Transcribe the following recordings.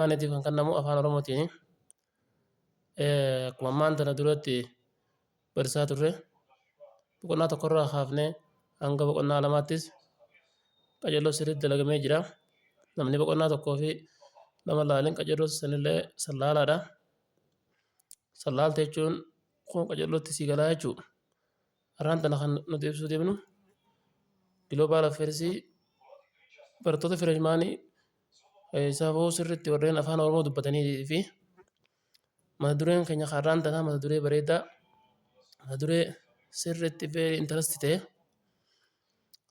afaaniitiif kan kennamu afaan oromootiini. Akkuma ammaan tana duratti barsiisaa turre boqonnaa tokkorraa kaafnee hanga boqonnaa lamaattis qajeeloo sirriitti dalagamee jira. Namni boqonnaa tokkoo fi lama laaleen qajeeloo sanillee san laalaadha. San laalte jechuun kun qajeelootti sii galaa jechuudha. Har'aan tana kan nuti ibsuu deemnu Global Affairs barattoota fireshmaanii safuu sirriitti warreen afaan Oromoo dubbatanii fi mata dureen keenya har'aan tana mata duree bareedaa mata duree sirriitti very interest ta'e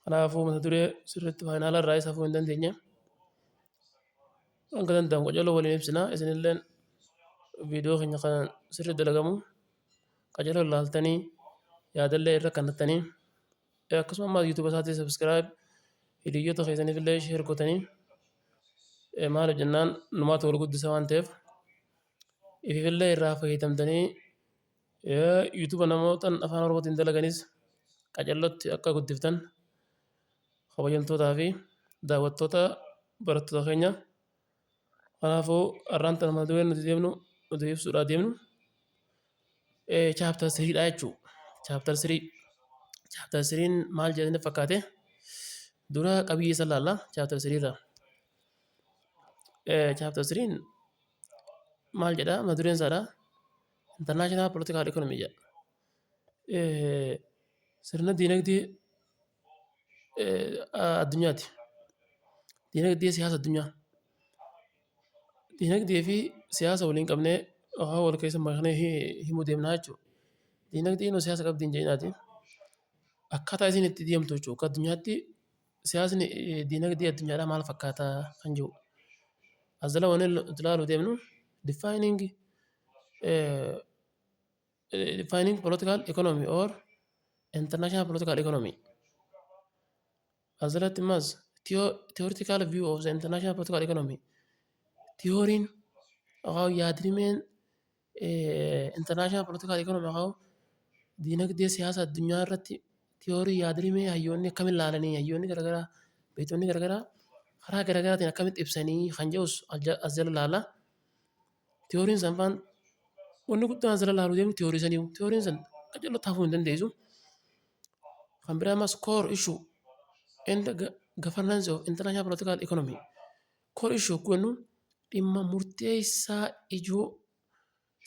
Kanaafuu mata duree sirriitti faayinaala irraa isa hafuu hin dandeenye. Hanga danda'amu qajeeloo waliin ibsina isinillee viidiyoo keenya kan sirrii dalagamu qajeeloo ilaaltanii yaadallee irra kannattanii akkasuma ammaa yuutuuba isaatii sabiskiraayib hiriyoota keessaniif illee sheer gootanii maaliif jennaan numaatu wal guddisa waan ta'eef ififillee irraa fayyadamtanii Yuutuba namootan afaan oromootiin dalaganis qacellotti akka guddiftan kabajamtootaa fi daawwattoota barattoota keenya kanaafuu har'aan tana mata dureen nuti deemnu nuti ibsuudhaa deemnu chaaptar siriidha jechuu chaaptar sirii chaaptar siriin maal jedhanii fakkaate dura qabiyyee isa laalla chaaptar siriirra chaaptar siriin maal jedha mata dureen isaadha International Political Economy jedha. Eh, Sirna diinagdee eh, addunyaati. Diinagdee siyaasa addunyaa. Diinagdee fi siyaasa waliin qabnee waan wal keessa maknee hi- himuu deemnaa jechuudha. Diinagdeen yoo siyaasa qabdi hin jedhinaati. Akkaataa isiin itti deemtu jechuudha. Akka addunyaatti siyaasni eh, diinagdee addunyaadhaa maal fakkaataa kan jiru. As jala waan ilaalu deemnu defining Defining political economy or international political economy as that mas theoretical view of the international political economy theorin akaw yaadrimeen international political economy akaw diinagdee siyaasa addunyaa irratti theorii yaadrimee hayyoonni akkamitti ilaalanii hayyoonni garagaraa beektonni garagaraa karaa garagaraatiin akkamitti ibsanii kan jedhus as jala ilaalla. Tiyooriin san faan wanni guddaan asirra laaluu deemu tiyoorii saniiyu. Tiyooriin san qajeellotti hafuu hin dandeessu. Kan biraa ammas core issue and governance of international political economy. Core issue kun jennu dhimma murteessaa ijoo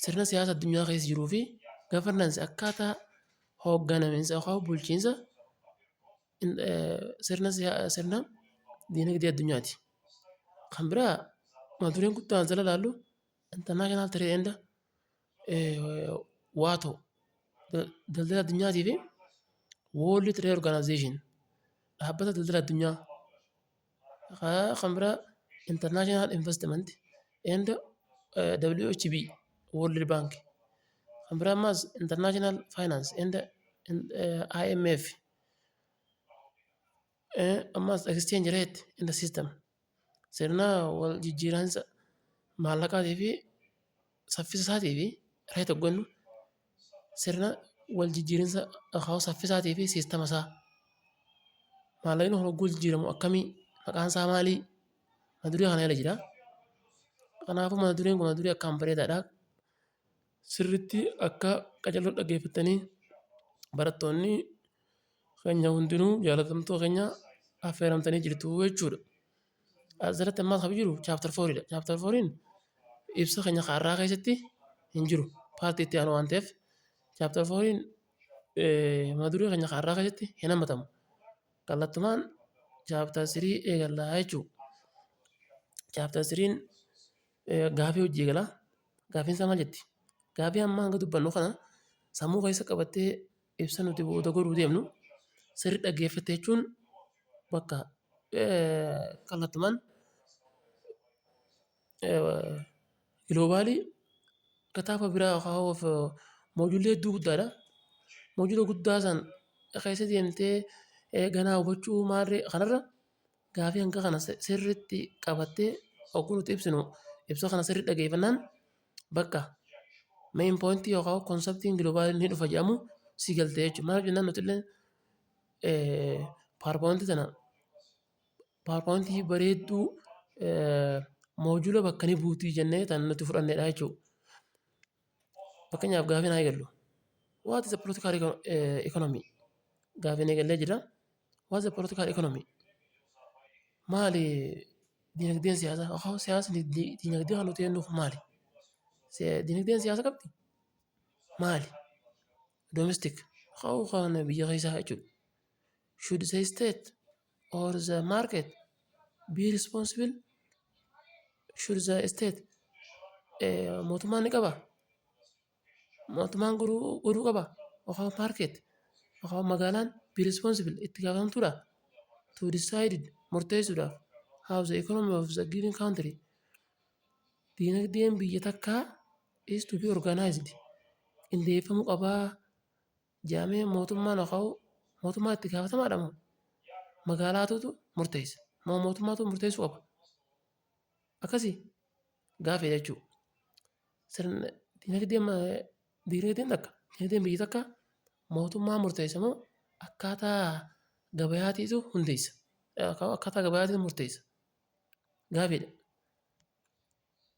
sirna siyaasa addunyaa keessa jiruu fi governance akkaataa hoogganaminsa yookaan bulchiinsa sirna sirna diinagdee addunyaati. Kan biraa mata dureen kutaa kana jala ilaallu international trade and waato daldala addunyaatii fi world trade organization dhaabbata daldala addunyaa kan biraa international investment and WHB world bank kan biraa ammaas international finance and IMF. Ammas exchange rate in the system sirna wal jijjiiransa maallaqaatii fi saffisa isaatii fi rate hoggannu sirna wal jijjiirinsa akaa'u saffisaatii fi siistama isaa maallaqni kun hogguu jijjiiramu akkamii maqaan isaa maalii mata duree kana jala jira. Kanaafuu mata dureen kun mata duree akkaan bareedaadha. sirriitti akka qajeeltoo dhaggeeffattanii barattoonni keenya hundinuu jaalatamtoo keenya affeeramtanii jirtu jechuudha. Asirratti ammaa kan jiru chaaptar fooriidha. Chaaptar fooriin ibsa keenya har'aa keessatti hin jiru. Paartii itti aanu waan ta'eef chaaptar fooriin mata duree keenya har'aa keessatti hin hammatamu. Kallattumaan chaaptar sirii eegallaa jechuudha. Chaaptar siriin Gaafii hojii eegalaa. Gaafiin isaa maal jetti? Gaafii amma hanga dubbannu kana sammuu keessa qabattee ibsa nuti booda godhuu deemnu sirri dhaggeeffatte jechuun bakka kallattumaan giloobaalii kitaaba biraa yookaan of moojuulii hedduu guddaadha. Moojuula guddaa san keessa deemtee ganaa hubachuu maarree kanarra Gaafii hanga kana sirriitti qabattee oguu nuti ibsinu ibsa kana sirrii dhageeffannaan bakka main point yookaan konseptiin global ni dhufa jedhamu si galte jechuudha. Maaliif jennaan nuti illee powerpoint tana powerpoint bareedduu moojula bakka ni buuti jennee tan nuti fudhannedha jechuudha. Fakkeenyaaf gaafiin haa eegallu. What is the political economy? Gaafiin eegallee jira. What is the political economy? Maali dinagdeen siyaasaa yookaan siyaasni dinagdee kan nuti jennuuf maali? Dinagdeen siyaasa qabdi? Maali? Domestic haa ta'u kan biyya keessaa jechuudha. Should the state or the market be responsible should the state eh, mootummaan ni qaba mootummaan godhuu godhuu qaba yookaan market yookaan magaalaan be responsible itti gaafatamtuudha to decide murteessuudhaaf how the economy of the given country diinagdeen biyya takkaa is to be organized qindeeffamuu qabaa Jaamee mootummaan haqa'uu mootummaan itti gaafatamaadha moo magaalaatuutu murteessa moo mootummaatu murteessuu qaba akkasii gaafeedha jechuudha. Sirna dinagdeen dinagdeen takka dinagdeen biyya takka mootummaa murteessa moo akkaataa gabayaatiitu hundeessa akkaataa gabayaatiitu murteessa gaafeedha.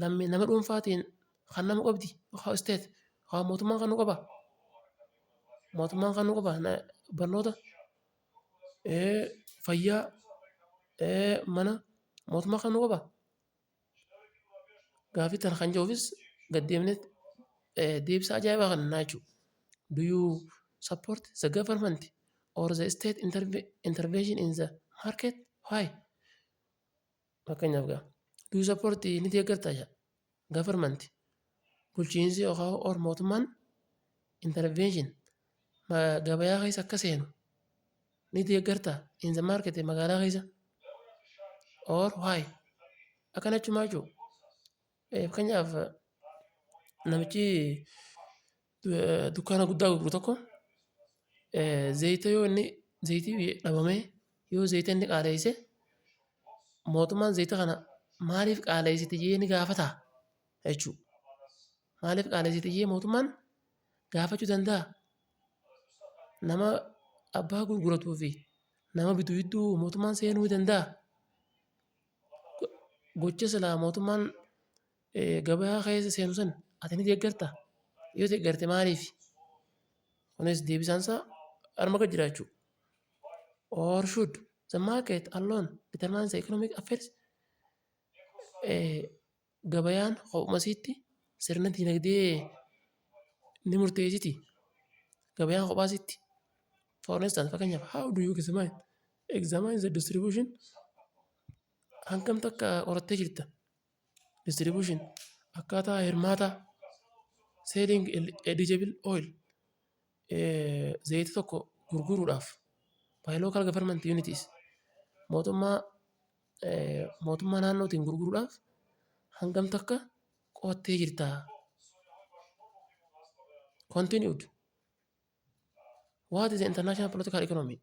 Lammii nama dhuunfaatiin kan nama qabdi yookaan isteet yookaan mootummaan kan nu qabaa? Mootummaan kan nu qabaa? Barnoota, fayyaa, mana mootummaan kan nu qabaa? Gaaffii kana kan jedhuufis gad deemnee deebisaa ajaa'ibaa kana kennaa jechuudha. Do you support the government or the state intervention in the market? Why? Fakkeenyaaf gaa. Do you support ni deeggartaa jaa. Government bulchiinsi yookaan or mootummaan intervention ma- gabayaa keessa akka seenu ni deeggartaa in the market magaalaa keessa or why akkana jechuun maal jechuu Fakkeenyaaf namichi dukkaana guddaa gurguru tokko zayita yoo inni zayitii dhabamee yoo zayita inni qaaleesse mootummaan zayita kana maaliif qaaleessite jedhee ni gaafataa jechuudha. Maaliif qaaleessite jedhee mootummaan gaafachuu danda'a? Nama abbaa gurguratuu fi nama bitu gidduu mootummaan seenuu ni danda'aa? Gocha silaa mootummaan gabaa keessa seenu san ati ni deeggartaa? Yoo deeggarte maaliif? Kunis deebisaan isaa arma gad jira jechuudha. Or should the market alone determine the economic affairs? Gabayaan kophuma isiitti sirna diinagdee ni murteessiti. Gabayaan kophaa isiitti. For instance, fakkeenyaaf how do you examine? Examine the distribution hangam takka qorattee jirta. Distribution akkaataa hirmaataa selling eligible oil eh, zayita tokko gurguruudhaaf by local government unities mootummaa mootummaa naannootiin gurguruudhaaf hangam takka qo'attee jirtaa? Continued. What is international political economy?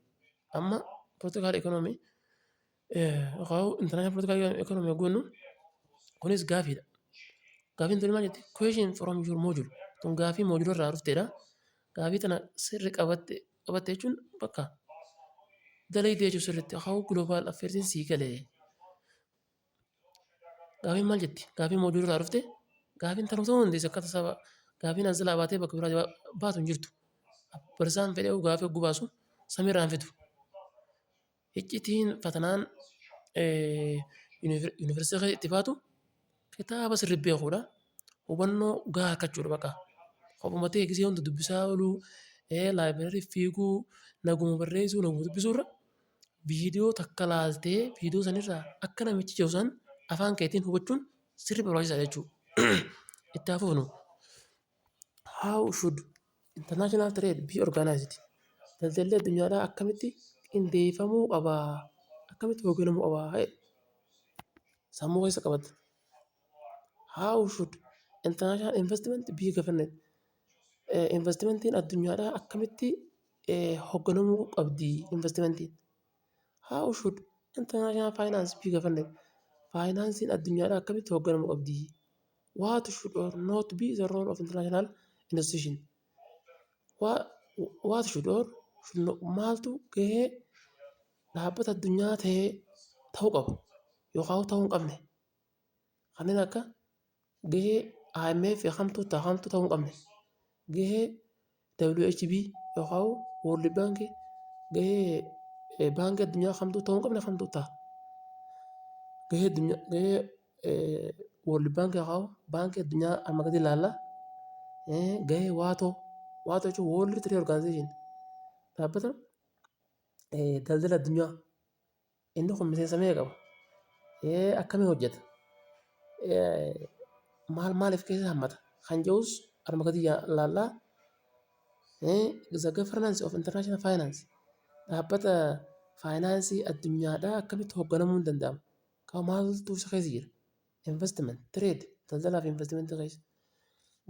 Amma political economy yookaan international political economy yoo jennu kunis gaafiidha. Gaafiin tuni maal jetti? Question from your module. Tun gaafii moojula irraa dhuftedha. Gaafii tana sirri qabatte qabatte jechuun bakka dalayde jechuun sirriitti akaawuu global affeersiin sii gale. Gaafiin maal jetti? Gaafiin moojuu irraa dhufte gaafiin tanuu ta'uu dandeessi akka tasaa gaafiin ansilaa baatee bakka biraa baatu hin jirtu. Barsaan fedheewu gaafii oggu baasu samiirraa hin fidu. Hiccitiin fatanaan yunivarsiitii keessa itti baatu kitaaba sirrii beekuudha. Hubannoo gahaa argachuudha baqa. Ofuma ta'e gisee hunda dubbisaa ooluu, laayibireerii fiiguu, naguma barreessuu, naguma dubbisuu irra viidiyoo takka ilaaltee viidiyoo sana irraa akka namichi jedhu sana afaan keetiin hubachuun sirrii barbaachisaadha jechuudha. Itti haa fufnu. How should international trade be organized? Daldalli addunyaadhaa akkamitti qindeeffamuu qaba? Akkamitti hoogganamuu qaba? Sammuu keessa qabadhu. How should international investment be governed? Investimentiin addunyaadhaa akkamitti hoogganamuu qabdi? Investimentiin. How should international finance be governed? Faayinaansiin addunyaadhaa akkamitti hoogganamuu qabdi? what should or not be the role of international institution what should or should not maaltu gahee dhaabbata addunyaa ta'ee ta'uu qaba yookaan ta'uu hin qabne kanneen akka gahee IMF kamtu ta'a kamtu ta'uu hin qabne gahee WHB yookaan World Bank gahee baankii addunyaa kamtuu ta'uu hin qabne kamtuu ta'a. Gahee addunyaa gahee World Bank yookaan baankii addunyaa amma gadi ilaalla. Gahee waatoo waatoo jechuun World Trade Organization dhaabbata daldala addunyaa. Inni kun miseensa meeqa qaba? Ee, akkamiin hojjeta? Ee, maal maaliif keessa hammata? Kan jedhus arma gadi ilaalla. The governance of international finance dhaabbata faayinaansii addunyaadhaa akkamitti hoogganamuun danda'ama? Kan maaltu isa keessa jira? Investment, trade, daldalaa fi investmentii keessa.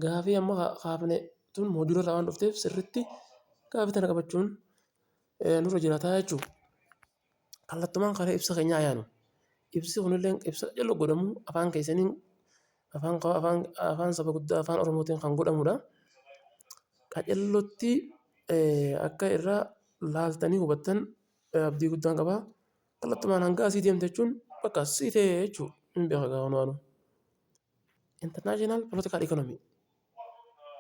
Gaafii amma ka- kaafne tun moodula irraa waan dhufteef sirriitti gaafii tana qabachuun eh, nurra jiraata jechuudha. Kallattumaan karaa ibsa keenyaa yaanu. Ibsi kunillee ibsa jaloo godhamu afaan keessaniin afaan ka- afaan afaan saba guddaa afaan oromootiin kan godhamudha. Qacellotti eh, akka irraa laaltanii hubattan eh, abdii guddaan qaba. Kallattumaan hanga asii deemte jechuun bakka asii ta'e jechuudha. Hin beeka gaa wanumaanuu. International political economy.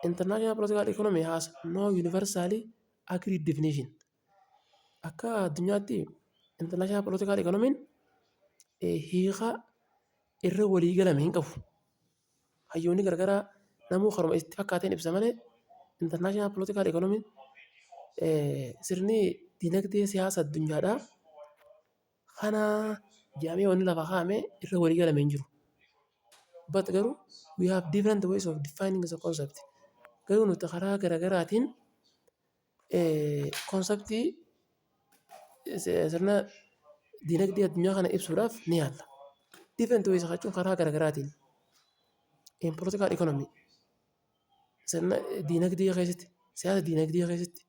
International political economy has no universally agreed definition. Akka addunyaatti international political economy hiika irra walii galame hin qabu. Hayyoonni garagaraa namuu karuma itti fakkaateen ibsa malee international political economy sirni dinagdee siyaasa addunyaadhaa kana jedhamee wanni lafa kaa'ame irra walii galame hin jiru. But garuu we have different ways of defining the concept. Garuu nuti karaa garagaraatiin Konseptii sirna dinagdee addunyaa kana ibsuudhaaf ni yaalla. Different ways jechuun karaa gara garaatiin in political economy sirna dinagdee keessatti, siyaasa dinagdee keessatti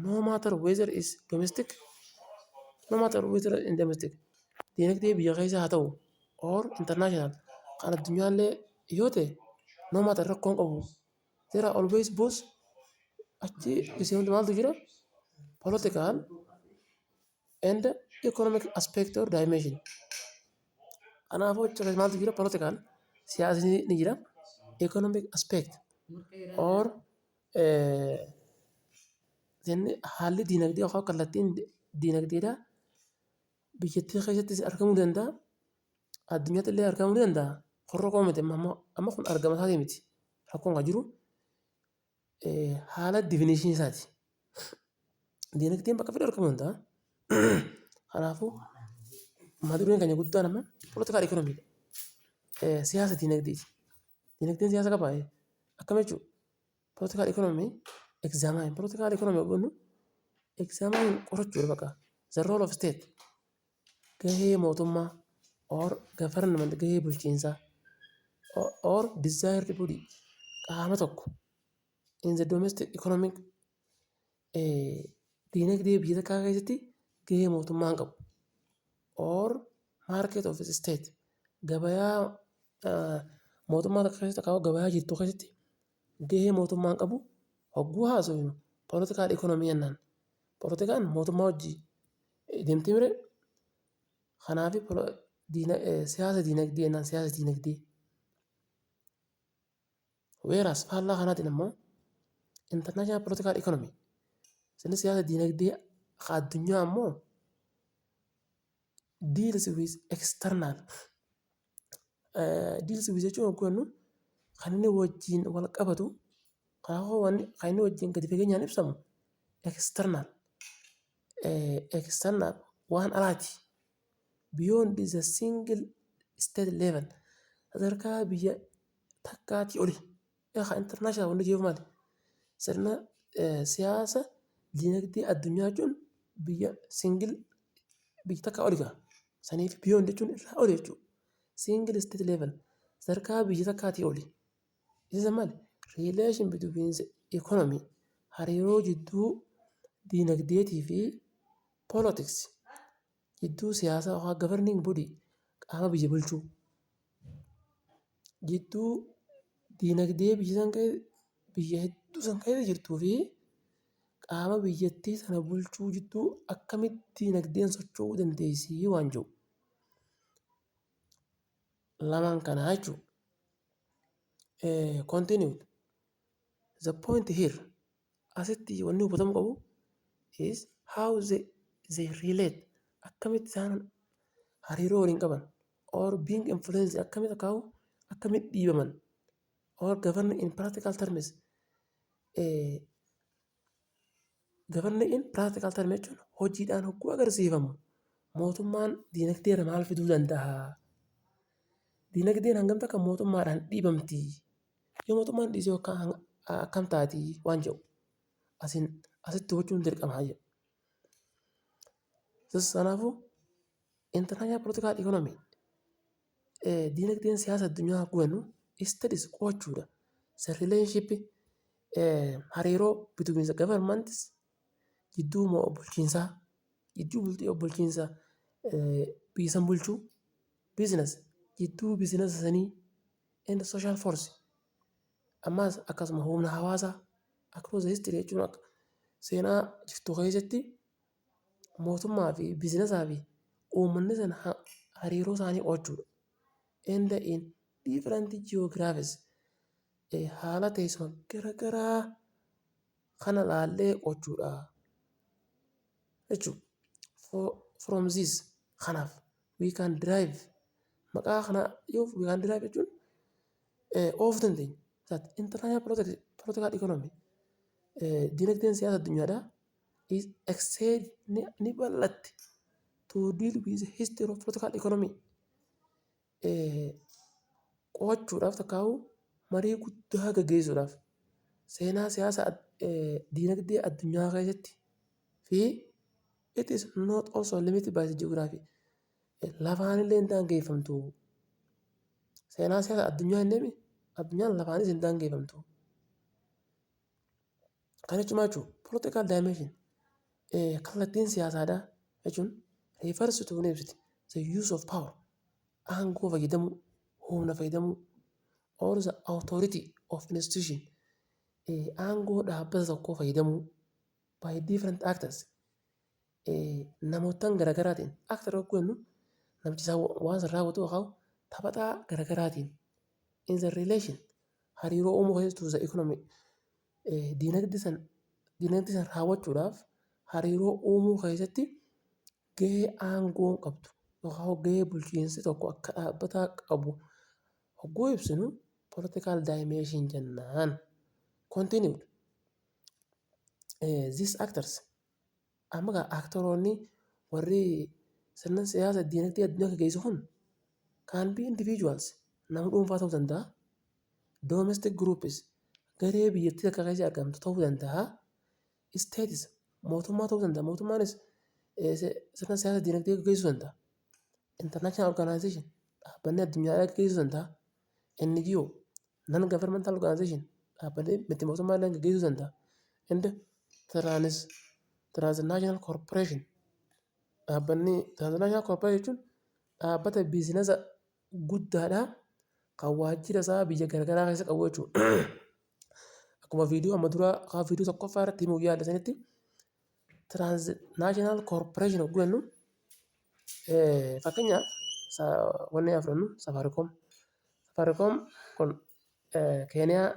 no matter whether is domestic, no matter whether in domestic dinagdee biyya keessaa haa ta'u or international kan addunyaallee yoo ta'e no matter rakkoon qabu. there are always both achi isii hundi maaltu jira political and economic aspect or dimension kanaafuu achi keessa maaltu jira political siyaasni ni jira economic aspect or eh, then haalli diinagdee yookaan kallattiin diinagdeedhaa biyyattii keessattis argamuu danda'a addunyaatti illee argamuu ni danda'a. Kun rakkoo miti amma kun argama isaatii miti. Rakkoon kan jiru haala divinishinii isaati. Diinagdeen bakka fedhe argamuu danda'a. Kanaafuu mata dureen keenya guddaan amma politikaal ikoonomiidha. Siyaasa diinagdeeti. Diinagdeen siyaasa qabaa? Akkam jechuudha? Politikaal ikoonomii egzaamaan politikaal ikoonomii jennu egzaamaan qorachuudha baqa. The role of state gahee mootummaa or government gahee bulchiinsaa or desired body qaama tokko in the domestic economic eh, diinagdee biyya takkaa keessatti gahee mootummaan qabu or market of its state gabayaa ah, mootummaa takka keessatti akaawwa gabayaa jirtu keessatti Gahee mootummaan qabu hogguu haasofnu political economy jennaan. Politikaan mootummaa wajjin deemti mire kanaaf siyaasa dinagdee jennaan siyaasa dinagdee. Whereas faallaa kanaatiin ammoo international political economy inni siyaasa dinagdee ka addunyaa ammoo deals with external Deals with jechuun yogguu jennu kan inni wajjin wal qabatu karaa wanni kan inni wajjin gadi fageenyaan ibsamu external external waan alaati beyond the single state level sadarkaa biyya takkaatii oli Yaa kan international wanni jiru maali? Sirna siyaasa dinagdee addunyaa jechuun biyya singil biyya takka oli ga'a. Saniif biyoon jechuun irraa oli jechuudha. Singil isteet leevel sadarkaa biyya takkaatii oli. Isa maali? Riileeshin bitwiin ikoonomii hariiroo jidduu dinagdeetii fi poolitiksii Jidduu siyaasaa yookaan governing body qaama biyya bulchuu. Jidduu diinagdee biyya san keessa biyya hedduu san keessa jirtuu fi qaama biyyattii sana bulchuu jidduu akkamitti diinagdeen socho'uu dandeessi waan jiru. Lamaan kanaa jechuudha. Continued. The point here Asitti wanni hubatamuu qabu is how they, they relate akkamitti isaan hariiroo waliin qaban or being influenced akkamitti kaa'u akkamitti dhiibaman or govern in practical terms eh, govern in practical terms jechuun hojiidhaan hogguu agarsiifamu mootummaan diinagdee irra maal fiduu danda'a? Diinagdeen hangam takka mootummaadhaan dhiibamti? Yoo mootummaan dhiisee hoo akkam taati waan jedhu asiin asitti hubachuun dirqama jedhu. Kanaafuu international political economy diinagdeen siyaasa addunyaa akka hubannu studies qo'achuudha. Isa relationship hariiroo between the governments jidduu bulchiinsaa jidduu bulchiinsa biyya san bulchuu business jidduu business sanii and social force ammaas akkasuma humna hawaasaa across the history jechuun akka seenaa jirtu keessatti mootummaa fi bizinesaa fi uummanni sana ha- hariiroo isaanii qo'achuudha. And in different geographies eh, haala teessuma garagaraa kana laallee qo'achuudha jechuudha. For- From this kanaaf We can drive. Maqaa kana yoo we can drive jechuun oof dandeenya. That international political, political economy. Dinagdeen siyaasa addunyaadhaa is extend ni, ni bal'atti to deal with history of political economy. Qo'achuudhaaf takkaa'uu marii guddaa gaggeessuudhaaf seenaa siyaasa dinagdee addunyaa keessatti fi It is not also limited by the geography. Lafaanillee hin daangeffamtu. Seenaa siyaasa addunyaa hin deemi. Addunyaan lafaanis hin daangeffamtu. Kan jechuun maal jechuudha? Political dimension. Kallattiin siyaasaadhaa jechuun refers to ni ibsiti. The use of power. Aangoo fayyadamuu, humna fayyadamuu. Or the authority of institution. Aangoo dhaabbata tokkoo fayyadamuu. by different actors namoottan garagaraatiin actor hogguu jennu namichi isaa waan san raawwatu yookaan taphataa garagaraatiin in the relation hariiroo uumuu keessatti to the economy dinagdee san dinagdee san raawwachuudhaaf hariiroo uumuu keessatti gahee aangoon qabdu yookaan gahee bulchiinsi tokko akka dhaabbataa qabu hogguu ibsinu political dimension jennaan continued These actors amma gaa aktoroonni warri sirna siyaasa diinagdee addunyaa gaggeessu kun can be individuals nama dhuunfaa ta'uu danda'a domestic groups garee biyyattii takka keessa argamtu ta'uu danda'a states mootummaa ta'uu danda'a mootummaanis eh, se- sirna siyaasa diinagdee gaggeessuu danda'a international organization dhaabbanni addunyaa gaggeessuu danda'a NGO, non governmental organization, dhaabbalee miti mootummaa illee gaggeessuu danda'a. And trans transnational corporation dhaabbanni transnational corporation jechuun dhaabbata biizinasa guddaadha kan waajjira isaa biyya garagaraa keessa qabu jechuudha. Akkuma viidiyoo amma duraa kaa viidiyoo tokkoffaa irratti himuuf yaale sanitti Transnational corporation hogguu jennu fakkeenyaaf wanni haa fudhannu safaariikoom. Safaariikoom kun keeniyaa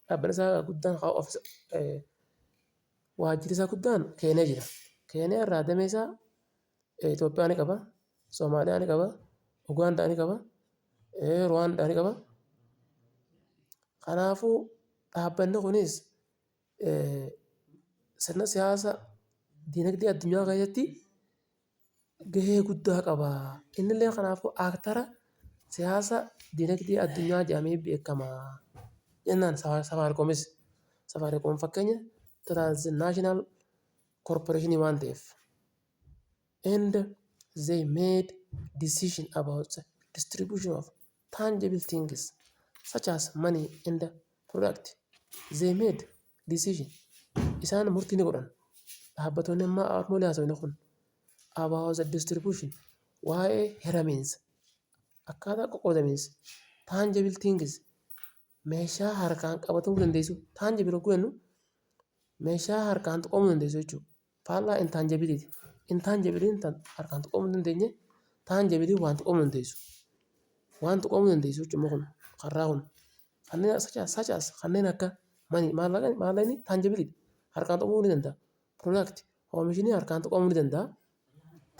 dhaabbanni isaa guddaan waajjirri isaa guddaan keeniyaa jira. Keeniyaa irraa damee isaa Itoophiyaa ni qaba, Somaaliyaa ni qaba, Ugaandaa ni qaba, Ruwaandaa ni qaba. Kanaafuu dhaabbanni kunis. sirna siyaasa dinagdee addunyaa keessatti gahee guddaa qaba. Innillee kanaafuu aaktara siyaasa dinagdee addunyaa jedhamee beekama. Jennaan safaarikoomis safaariikoom fakkeenya tiraanzinaashinaal korporeeshinii waan ta'eef and they made decision about the distribution of tangible things such as money and product they made decision isaan murtii ni godhan dhaabbattoonni amma armoolii haasofne kun about the distribution waa'ee hiramiinsa akkaataa qoqqoodamiinsa tangible things meeshaa harkaan qabatamuu dandeessu tangible hogguu jennu meeshaa harkaan tuqamuu dandeessu jechuudha. Faallaa intaanjabiliiti. Intaanjabiliin tan harkaan tuqamuu hin dandeenye, taanjabiliin waan tuqamuu dandeessu. Waan tuqamuu dandeessu jechuun immoo kun karraa kun kanneen such as such as kanneen akka mani maallaqani maallaqni taanjabiliidha. Harkaan tuqamuu ni danda'a. Product oomishni harkaan tuqamuu ni danda'a.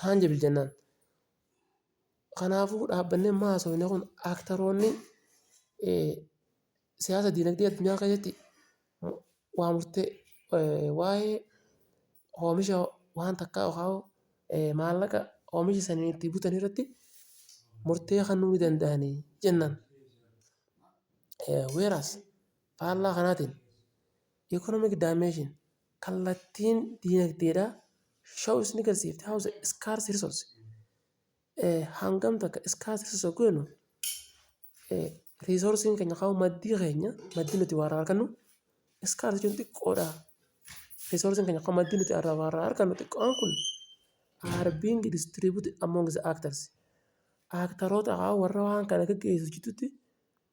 Taanjibili jennaan. Kanaafuu dhaabbanni amma haasofne kun aktaroonni... siyaasa diinagdee addunyaa keessatti waa murtee waa'ee oomisha waan takkaa yookaan maallaqa oomisha sana itti butan irratti murtee kennuu ni danda'ani jennaan. Whereas faallaa kanaatiin economic dimension kallattiin diinagdeedhaa shows ni agarsiifti how the scarce resource hangam takka iskaasisa isa goonu riisoorsiin keenya kaa'u maddii keenya maddii nuti warra argannu iskaas jechuun xiqqoodha. Riisoorsiin keenya kan maddii nuti warra argannu xiqqoon kun are being distributed among the actors. Aaktaroota warra waan kana gaggeessu jidduutti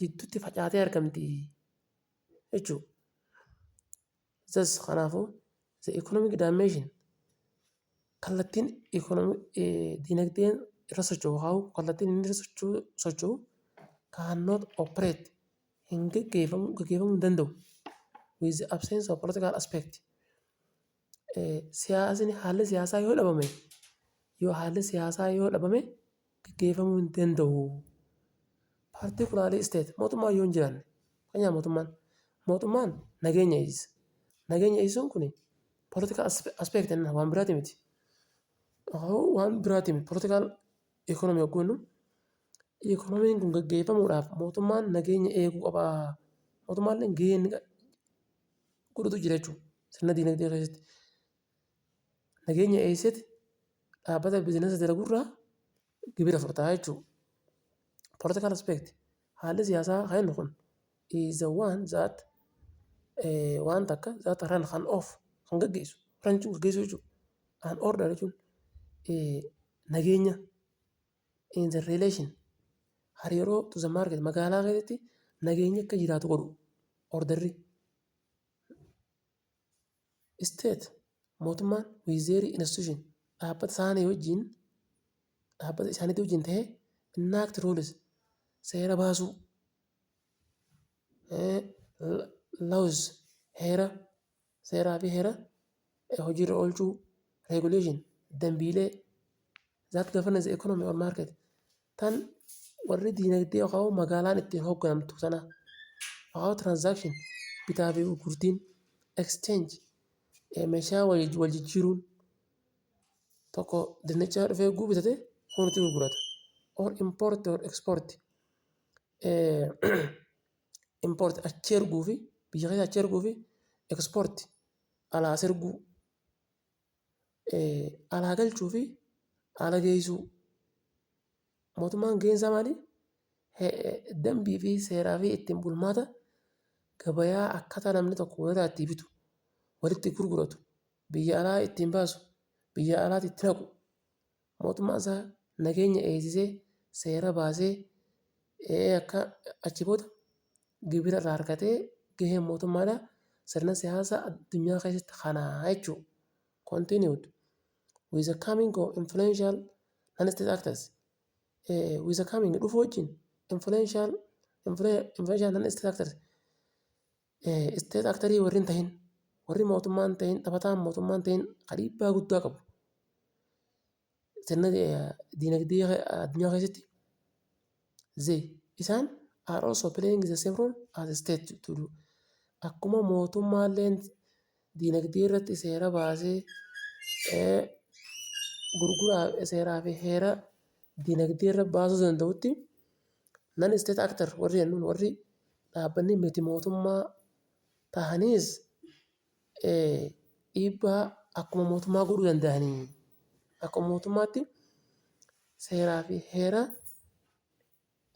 jidduutti facaatee argamti jechuudha. Thus kanaafuu the economic dimension kallattiin dinagdeen irra socho'u haa'u kallattiin inni irra socho'u cannot operate hin gaggeeffamu gaggeeffamuu hin danda'u with the absence of political aspect. siyaasni haalli siyaasaa yoo dhabame yoo haalli siyaasaa yoo dhabame gaggeeffamuu hin danda'u. Paartii kulaalee isteet mootummaa yoo hin jiraanne fakkeenyaaf mootummaan mootummaan nageenya eegsiisa. Nageenya eegsiisuun kun poolitikaa aspeekti jenna waan biraati miti. Waan biraati miti poolitikaal ikoonoomii yogguu jennu ikoonomiin kun gaggeeffamuudhaaf mootummaan nageenya eeguu qabaa. Mootummaan illee gahee inni qabu godhutu jira jechuudha. Sirna dinagdee keessatti. Nageenya eessatti dhaabbata biizinasa dalagurraa gibira fudhataa jechuudha. Political aspect haalli siyaasaa kan kun is the one that eh, waan takka that run kan off kan gaggeessu run jechuun gaggeessu jechuudha. An order jechuun eh, nageenya in the relation hariiroo to the market magaalaa keessatti nageenyi akka jiraatu godhu orderri state mootummaan with their institution dhaabbata isaanii wajjin dhaabbata isaaniitii wajjin ta'ee enact rules seera baasuu eh, laws heera Seeraa fi heera hojiirra oolchuu, regulation, dambiilee that governance economy or market tan warri diinagdee yookaan magaalaan ittiin hoogganamtu sana yookaan transaction bitaa fi gurgurtiin exchange meeshaa wal jijjiiruun tokko dinnichaa dhufee guu bitate kunutti gurgurata or import or export import achi erguu fi biyya keessa achi erguu fi export alaa as erguu alaa galchuu fi ala geessuu mootummaan gaheen isaa maali? Dambii fi seeraa fi ittiin bulmaata gabayaa akkaataa namni tokko walirraa itti bitu walitti gurguratu biyya alaa ittiin baasu biyya alaatti itti naqu Mootummaan isaa nageenya eegsisee, seera baasee, akka achi booda gibira irraa argatee gaheen mootummaadha. Sirna siyaasaa addunyaa keessatti kana jechuu continued with the coming of influential non-state actors with the coming dhufu wajjin influential influential non-state actors Isteet aktarii warri hin tahin, warri mootummaa hin tahin, taphataan mootummaa hin tahin ka dhiibbaa guddaa qabu sirna diinagdee addunyaa keessatti zee isaan are also playing the same role as a state to do akkuma mootummaalleen Diinagdee irratti seera baasee gurguraa seeraa fi heera diinagdee irra baasuu danda'utti nan isteet aktar warri jennuun warri dhaabbanni miti mootummaa tahaniis dhiibbaa akkuma mootummaa godhuu danda'anii akkuma mootummaatti seeraa fi heera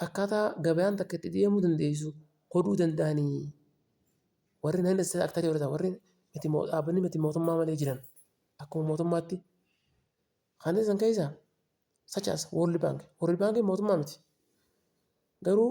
Akkaataa gabayaan takka itti deemuu dandeessu godhuu danda'anii warri nan seektarii warri warri miti dhaabbanni miti mootummaa malee jiran akkuma mootummaatti kanneen san keessaa such as world bank world bank mootummaa miti garuu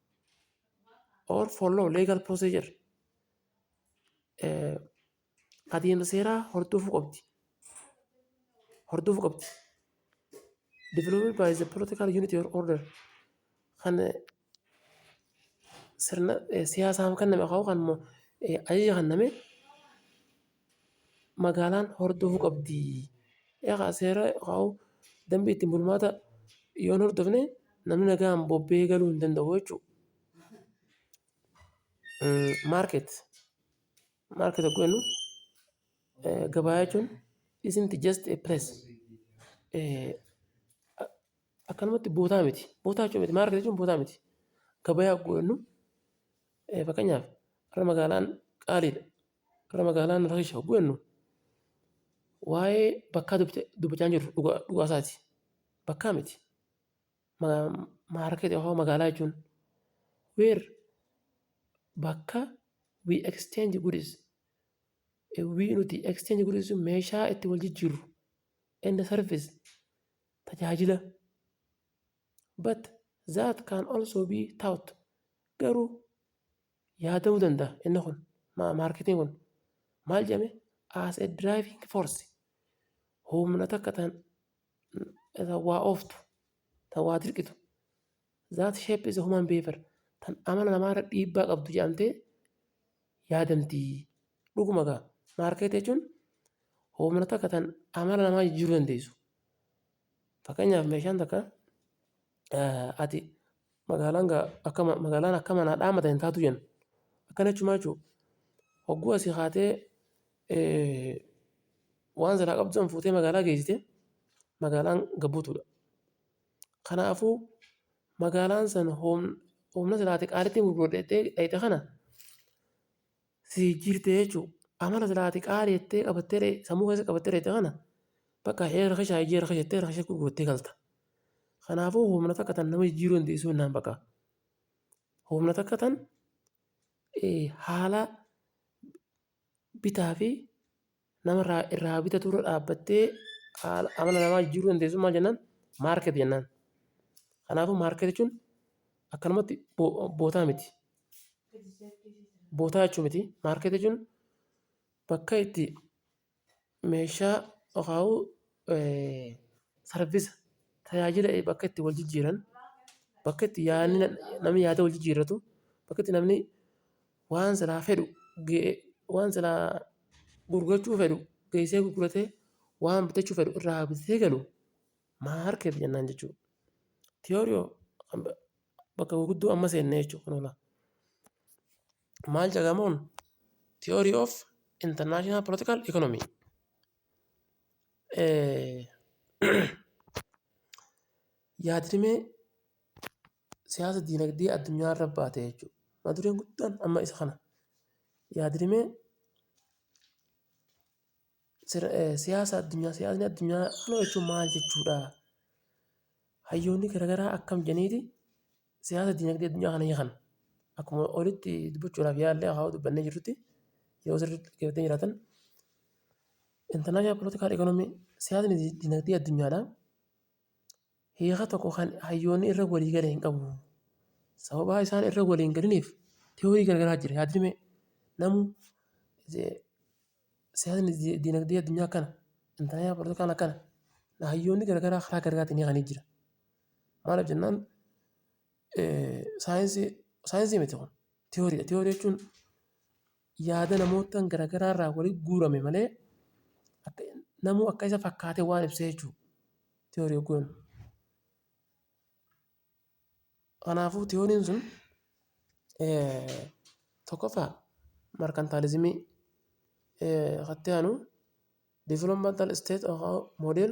or follow legal procedure eh, adeemsa seeraa hordofuu qabdi. Hordofuu qabdi. Developed by the political unity or order kan eh, sirna eh, siyaasaaf kenname haa ta'u kan immoo eh, ajaja kenname magaalaan hordofuu qabdi. Seera yookaan dambii ittiin bulmaata yoo hin hordofne namni nagaan bobba'ee galuu hin danda'u jechuudha. Maarkeet, maarkeet yogguu jennu gabaa jechuun isn't just a place akkanumatti bootaa miti. Bootaa jechuu miti maarkeet jechuun bootaa miti. Gabaa yogguu jennu fakkeenyaaf har'a magaalaan qaaliidha. Gara magaalaa Nuuraa keessa hogguu jennu waa'ee bakkaa dubbachaa hin jirru dhugaa isaati. Bakkaa miti. Maarkeetii yookaan magaalaa jechuun where bakka we exchange goods we nuti exchange goods jechuun meeshaa itti wal jijjiirru and service tajaajila but that can also be taught garuu Yaa ta'uu danda'a inni kun maarketiin kun maal jedhame as a driving force humna takka tan waa ooftu tan waa dirqitu that shape is human behavior tan amala namaa irra dhiibbaa qabdu jedhamtee yaadamti dhuguma gaa maarkeetii jechuun humna takka tan amala namaa jijjiiruu dandeessu fakkeenyaaf meeshaan takka ati magaalaan gaa akka ma- magaalaan akka manaa dhaamata hin taatu jenna akkana jechumaa jechuudha hogguu asii kaatee eh, waan silaa qabdu san fuutee magaalaa geessite magaalaan gabbutuudha kanaafuu magaalaan san hoom- humna silaate qaalitti gurgurdheettee dhayxe kana si jijjiirte jechuu amala silaa ati qaali jettee qabattee ta'e sammuu keessa qabattee ta'e kana bakka hee rakashaa ijee rakasha jettee rakasha gurgurattee galta. Kanaafuu humna takka tan nama jijjiiruu dandeessuu innaan bakka humna takka tan haala bitaa fi nama irraa irraa bitatu irra dhaabbattee haala amala namaa jijjiiruu dandeessu maal jennaan maarket jennaan. Kanaafuu maarket jechuun akkanumatti bo- bootaa miti. Bootaa jechuu miti. Maarket jechuun bakka itti meeshaa yookaan sarvisa tajaajila bakka itti wal jijjiiran bakka itti yaadni namni yaada wal jijjiirratu bakka itti namni waan silaa fedhu waan silaa gurgurachuu fedhu geessee gurguratee waan bitachuu fedhu irraa bitatee galu maarkeet jennaan jechuudha. Tiyoorii bakka gurguddoo amma seenne jechuudha. Maal jedhamuun tiyoorii of intarnaashinaal poolitikaal ikoonomii. Yaadrimee siyaasa diinagdee addunyaa irra baate jechuudha. Mata dureen guddaan amma isa kana. Yaadrimee siyaasa addunyaa siyaasni addunyaa kana jechuun maal jechuudha? Hayyoonni garaagaraa akkam jedhaniiti siyaasa diinagdee addunyaa kana hiikan? Akkuma olitti dubbachuudhaaf yaalle haa dubbannee jirrutti yoo sirriitti dhaggeeffatanii jiraatan international political economy siyaasni diinagdee addunyaadhaa hiika tokko kan hayyoonni irra walii gala hin qabu. Sababaa isaan irra walii hin galiniif tiyoorii garagaraa jira yaadrimee namu siyaasni dinagdee addunyaa kana intaraayaa politikaan akkana hayyoonni garagaraa karaa garagaatiin hiikanii jira. Maaliif jennaan saayinsii saayinsii miti kun tiyooriidha tiyoorii jechuun yaada namoottan garagaraa irraa walitti guurame malee akka namuu akka isa fakkaate waan ibsee jechuudha. Tiyoorii hogguu jennu. Kanaafuu tiyooriin sun tokkoffaa markantaalizimii katti aanu developmental state of our model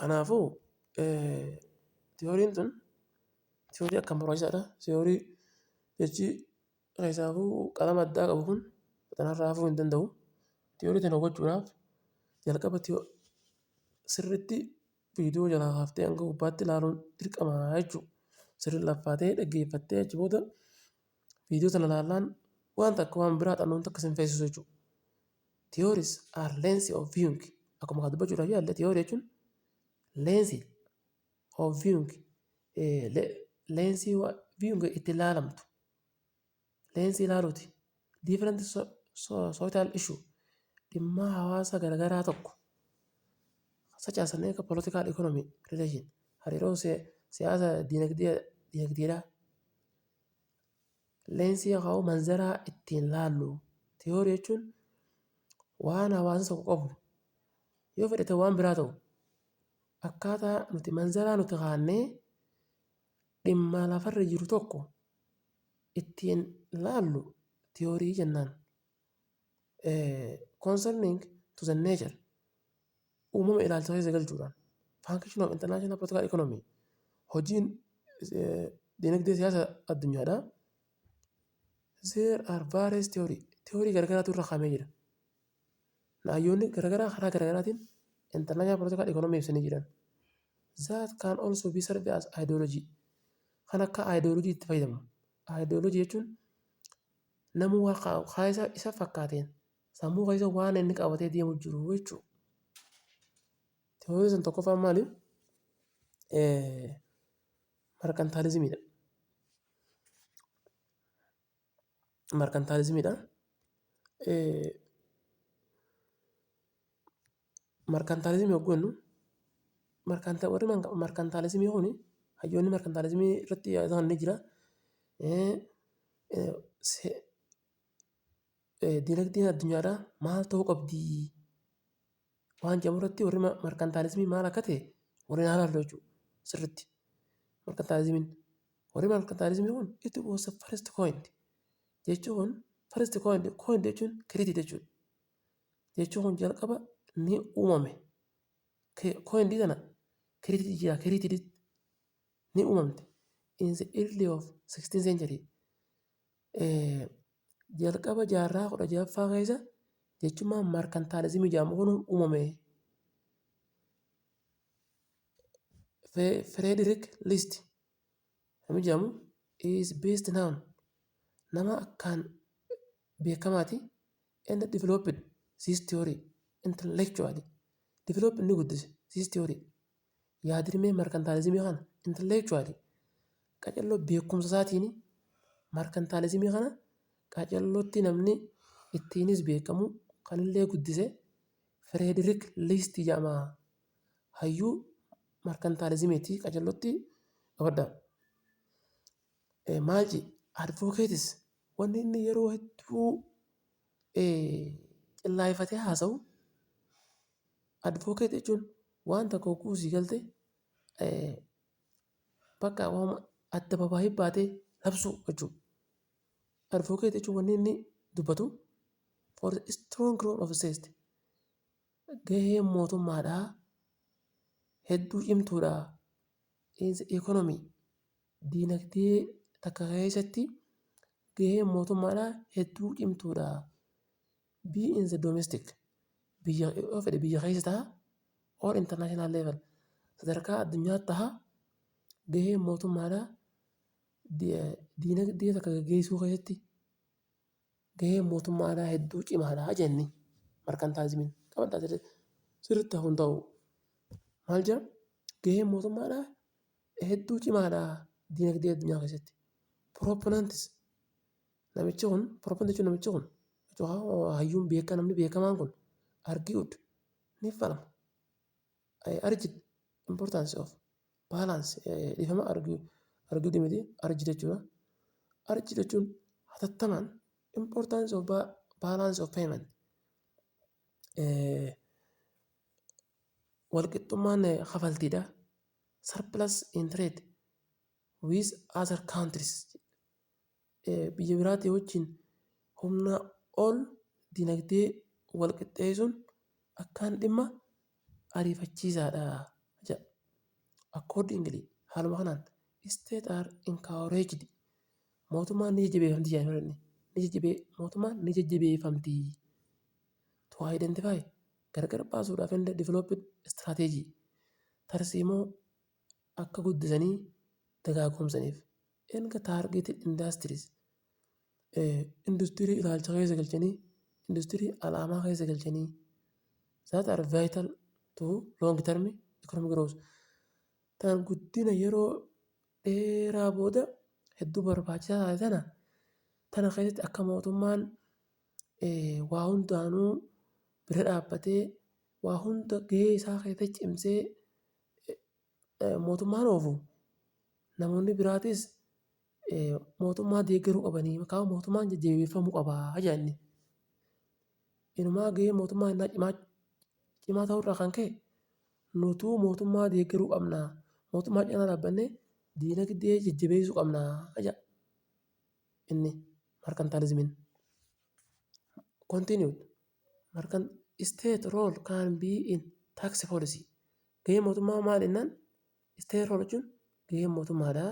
Kanaafuu tiyooriin tun tiyoorii akkaan barbaachisaadha. Tiyoorii jechi keessaafuu qalama addaa qabu kun kanarraa hafuu hin danda'u. Tiyoorii tana hubachuudhaaf jalqaba sirriitti viidiyoo jalaa kaaftee hanga gubbaatti ilaaluun dirqama jechuudha. Sirrii laffaatee dhaggeeffattee achi booda viidiyoo sana ilaallaan waan takka waan biraa hubannoo takka si hin feesisu jechuudha. Theories are lens of viewing. Akkuma kan dubbachuudhaaf yaalle theory jechuun lensii of viewing eh, le- lensii wa- viewing itti ilaalamtu lensii ilaaluuti different so, so, social issue dhimmaa hawaasa garagaraa tokko such as an eco- political economy relation hariiroo si- siyaasa dinagdee dinagdeedhaa Leensii yookaan immoo manzara ittiin laallu tiyoorii jechuun waan hawaasa tokko qabu yoo fedhe ta'u waan biraa ta'u akkaataa nuti manzaraa nuti kaannee dhimma lafarra jiru tokko ittiin laallu tiyoorii jennaan. concerning to the nature uumama ilaalcha keessa galchuudhaan function of international political economy hojiin eh, dinagdee siyaasa addunyaadha there are various theory theory garagaraatu irra kaamee jira naayyoonni garagaraa karaa garagaraatiin international political economy ibsanii jiran that can also be served as ideology kan akka ideology itti fayyadama ideology jechuun Namuu waan ka, ka isa, isa fakkaateen sammuu keessa waan inni qabatee deemu jiru jechuudha. Teooriin sun tokkoffaan maali? Markantaalizimiidha. Markantaalizimiidha. Markantaalizimii yogguu jennu warri markantaalizimii kun hayyoonni markantaalizimii irratti yaadaan ni jira. Dinagdeen addunyaadhaa maal ta'uu qabdi waan jedhamu irratti warri markantaalizimii maal akka ta'e waliin haa ilaallu jechuudha sirriitti. Markantaalizimiin warri markantaalizimii kun it was first coined jechuun first coined coined jechuun created jechuudha. jechuun kun jalqaba ni uumame coin d kana created jira created ni uumamte in the early of 16th century jalqaba jaarraa kudha jaffaa keessa jechummaa markantaalizimii jedhamu kun uumame Frederick List Namni jedhamu is best known nama akkaan beekamaati and developed this theory intellectually develop ni guddise this theory yaadrimee markantaalizimii kana intellectually qacarroo beekumsa isaatiin markantaalizimii kana qacarrootti namni ittiinis beekamu kanillee guddise Frederick List jedhama. hayyuu markantaalizimiiti qacellotti qabadha. Maal jedhe advookeetis wanni inni yeroo hedduu qillaayifatee haasa'u advookeet jechuun waan tokko hogguu sii galte bakka waan addababaahi baatee labsuu jechuudha. Advookeet jechuun wanni inni dubbatu for strong room of state. Gaheen mootummaadhaa hedduu cimtuudha. Is economy diinagdee takka keessatti gaheen mootummaadhaa hedduu cimtuudha. B in the domestic biyya yoo fedhe biyya keessa ta'a or international level sadarkaa addunyaatti ta'a gaheen mootummaadhaa diinagdee takka gaggeessuu keessatti gaheen mootummaa alaa hedduu cimaadha jenne markantaazimiin qabadhaa sirriitti. Sirriitti hafuun ta'u maal jira gaheen mootummaa alaa hedduu cimaadha diinagdee addunyaa keessatti. Piroopinantis namichi kun piroopinanti jechuun namichi kun hayyuun beekaa namni beekamaan kun argi'uud ni falma. I urged importance of balance eh, dhiifama argu- argudi miti urge jechuudha. Urge jechuun hatattamaan importance of ba- balance of payment eh, walqixxummaan eh, kafaltiidha. Surplus in trade with other countries biyya biraatii wajjin humnaa ol dinagdee wal qixxeessuun akkaan dhimma ariifachiisaadha jedha. Accordingly, haaluma kanaan, states are encouraged mootummaan ni jajjabeeffamti jedha inni. Ni jajjabee mootummaan ni jajjabeeffamti to identify gargar baasuudhaaf and develop strategy tarsiimoo akka guddisanii dagaagoomsaniif erga targeted industries industirii ilaalcha keessa galchanii industirii alaamaa keessa galchanii that are vital to long term economic growth tan guddina yeroo dheeraa booda hedduu barbaachisaa taate tana tana keessatti akka mootummaan waa hundaanuu bira dhaabbatee waa hunda gahee isaa keessatti cimsee mootummaan oofu namoonni biraatis mootummaa deeggaruu qabanii yookaan mootummaan jajjabeeffamuu qaba jedha inni. Inumaa gaheen mootummaa innaa cimaa cimaa ta'uurraa kan ka'e nutuu mootummaa deeggaruu qabna. Mootummaa cina dhaabbannee diinagdee jajjabeessuu qabna jedha inni markantaalizimiin. Continue. Markan state role can be in tax policy. Gahee mootummaa maal jennaan state role jechuun gahee mootummaadha.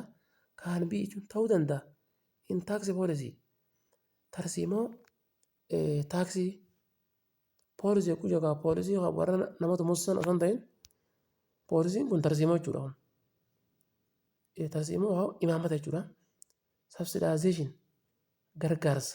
Can be jechuun ta'uu danda'a. In tax policy tarsiimoo taaksii poolisii jechuun jechuudha poolisii warra nama tumsisan osoo hin ta'in poolisiin kun tarsiimoo jechuudha kun. Tarsiimoo imaammata jechuudha. Subsidization gargaarsa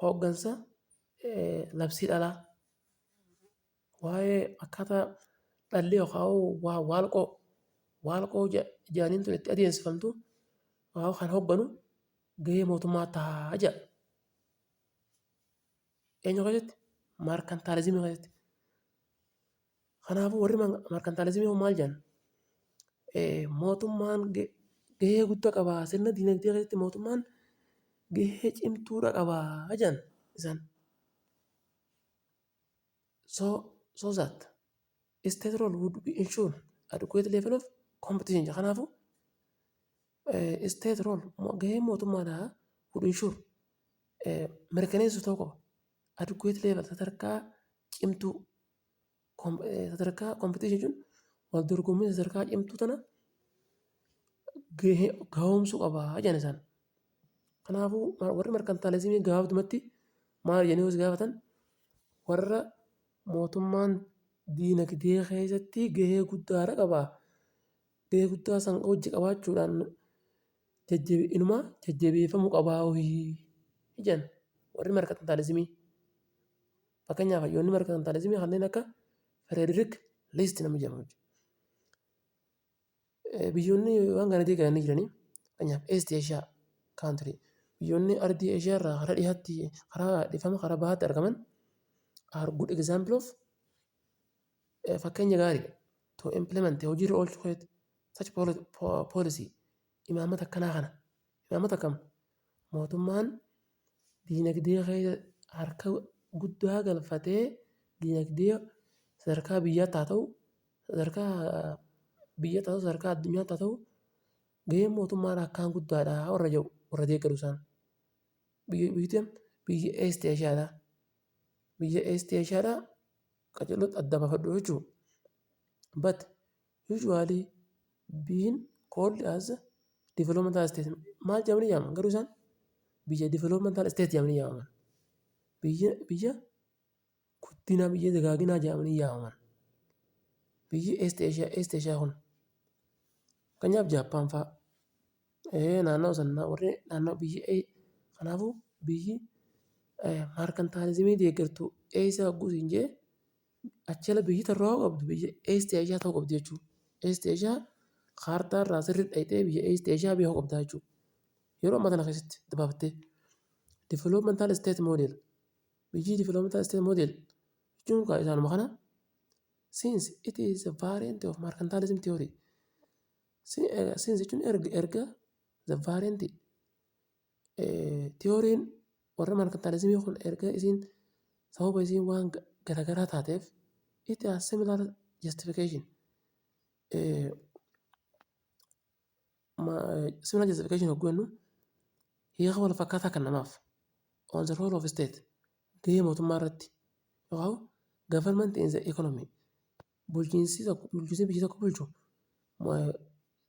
hooggansa labsii dhalaa, waa'ee akkaataa dhalli yookaan waalqoo waalqoo jedhaniin tun itti adeemsifamtu kan hoogganu gahee mootummaa tahaa jedha. Eenyu akkasitti? Markantaalizimii keessatti. Kanaafuu warri markantaalizimii hoo maal jedhan? Mootummaan gahee guddaa qaba. Sirna dinagdee keessatti mootummaan gahee cimtuudha qaba jedhan isaan. So, so that state role would be ensured adequate level of competition. Kanaafuu state role gahee mootummaadhaa would ensure mirkaneessu ta'uu qaba. Adequate level sadarkaa cimtuu sadarkaa competition jechuun wal dorgommii sadarkaa cimtuu tana gahee gahoomsuu qaba jedhan isaan. Kanaafuu ma- warri markantaalizimii gabaabdumatti maal jedhanii hoos gaafatan warra mootummaan diinagdee keessatti gahee guddaadha qaba. Gahee guddaa san hojji qabaachuudhaan jajjabe inuma jajjabeeffamuu qabaa hohi jedhan warri markantaalizimii. Fakkeenyaaf hayyoonni markaantaalizimii kanneen akka Frederick List nama jedhamu jechuudha. Biyyoonni waan kana deegaranii jiranii fakkeenyaaf East Asia country biyyoonni ardii Asia irraa karaa dhihaatti karaa dhifama karaa bahaatti argaman are good example of fakkeenya gaariidha to implement hojiirra oolchuu keetti such policy Imaammata akkanaa kana imaammata kam mootummaan diinagdee keessa harka guddaa galfatee diinagdee sadarkaa biyyaatti haa ta'u sadarkaa biyyaatti haa ta'u sadarkaa addunyaatti haa ta'u gaheen mootummaan akkaan guddaadha warra jedhu warra deeggaru isaan. Biyyi biyyi biyya East Eeshiyaadha. Biyya East Eeshiyaadha qajeelota adda baafadhu jechuudha. But Usually being called as a developmental state maal jedhamanii yaamaman garuu isaan biyya developmental state jedhamanii yaamaman biyya biyya guddinaa biyya dagaaginaa jedhamanii yaamaman biyyi east asia east asia kun fakkeenyaaf jaappaan faa eh, naannoo sannaa warri naannoo biyyi eh, kanaafuu biyyi eh, maarkantaalizimii deeggartuu eessa hogguu siin jee Achela biyyi tarraa hoo qabdu biyya East Asia ta'uu qabdi jechuu. East Asia kaartaa irraa sirri dhayxee biyya East Asia biyya hoo qabdaa jechuu. Yeroo amma kana keessatti dabaabattee. Developmental state model. Biyyi developmental state model jechuun kaa isaanuma kana since it is a variant of mercantilism theory. Since jechuun erga erga the variant Tiyooriin warra markantalizimii kun erga isiin sababa isiin waan garagaraa taateef it has similar justification similar justification hogguu jennu hiika wal fakkaataa kan namaaf on the role of state gahee mootummaa irratti yookaan government in the economy Bulchiinsi tokko bulchiinsi biyya tokko bulchu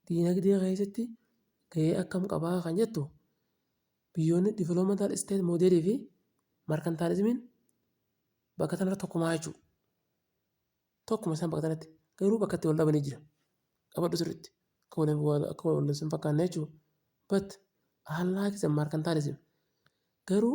diinagdee keessatti gahee akkam qabaa kan jettu biyyoonni developmental state model fi mercantilismiin bakka kanarra tokkumaa jechuudha. Tokkuma isaan bakka kanatti garuu bakka itti wal dhabanii jiran qabadhu sirriitti akka wal lolaniif hin fakkaanne jechuudha. But unlike the mercantilism garuu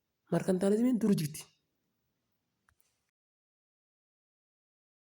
Markantaalizimiin dur jirti.